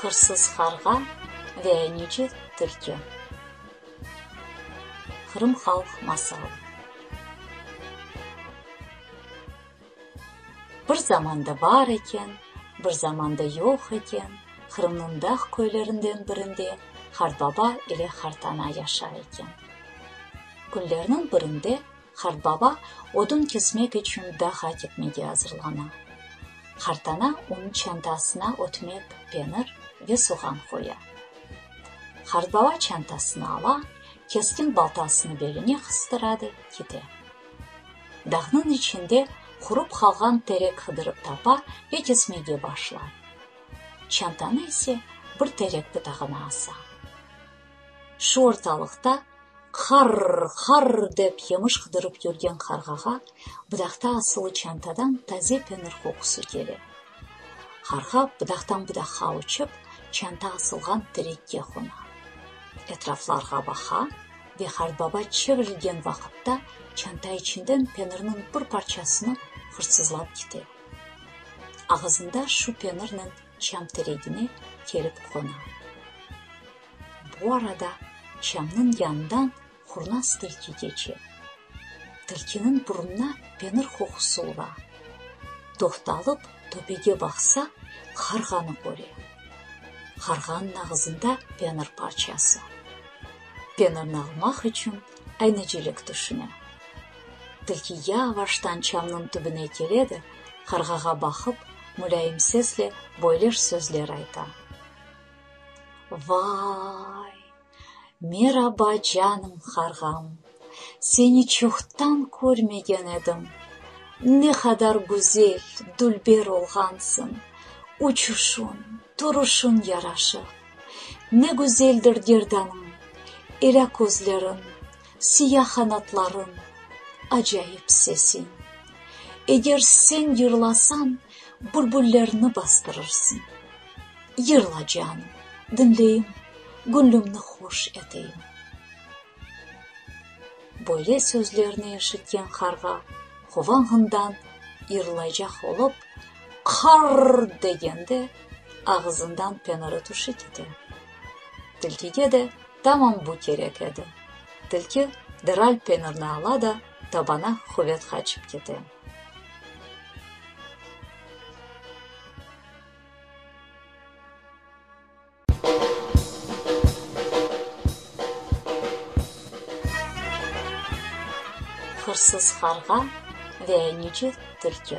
Hırsız qarğa ve anici tilki. Qırım halq masalı. Bir zamanda bar eken, bir zamanda yoq eken, Qırımnıñ dağ köylerinden birinde Qartbaba ile Qartana yaşar eken. Künlerniñ birinde Qartbaba odun kesmek içün dağğa ketmege azırlana. Qartana onıñ çantasına ötmek, penir ve soğan qoya. Qartbaba çantasını ala, keskin baltasını beline qıstıra da kete. Dağnıñ içinde qurup qalğan terek qıdırıp tapa ve kesmege başlay. Çantanı ise bir terek butağına asa. Şu ortalıqta qarr, qarr dep yemiş qıdırıp yürgen qarğağa butaqta asılı çantadan taze penir qoqusı kele. Qarğa butaqtan butaqqa uçıp, çanta asılğan terekke qona. Etraflarğa baqa. Ve qartbaba çevirilgen vaqıtta çanta içinden penirniñ bir parçasını hırsızlap kite. Ağızında şu penirnen çam teregine kelip qona. Bu arada çamnıñ yanından qurnaz tilki keçe. Tilkiniñ burunına penir qoqusı ura. Toqtalıp, töpege baqsa, qarğanı köre. Qarğanıñ ağızında penir parçası. Penirni almaq içün aynecilik tüşüne. Tilki yavaştan çamnıñ tübüne kele de, qarğağa baqıp, mulâyim sesle böyleş sözler ayta. Vay! Meraba, canım qarğam! Seni çoqtan körmegen edim. Ne qadar güzel, dülber olğansıñ! Uçuşuñ, turuşuñ yaraşıq. Ne güzeldir gerdanıñ, elâ közleriñ, Siya qanatlarıñ, acayip sesiñ. Eger sen yırlasañ, bülbüllerni bastırırsıñ. Yırla, canım, diñleyim, Güñlümni hoş eteyim. Böyle sözlerni eşitken qarğa quvağından yırlaycaq olıp, qarr! degende, ağızından penarı tüşi kete. Tilkige de tamam bu kerek edi. Tilki deral penirni ala da tabana quvet qaçıp kete. Hırsız qarğa ve yüce tilki.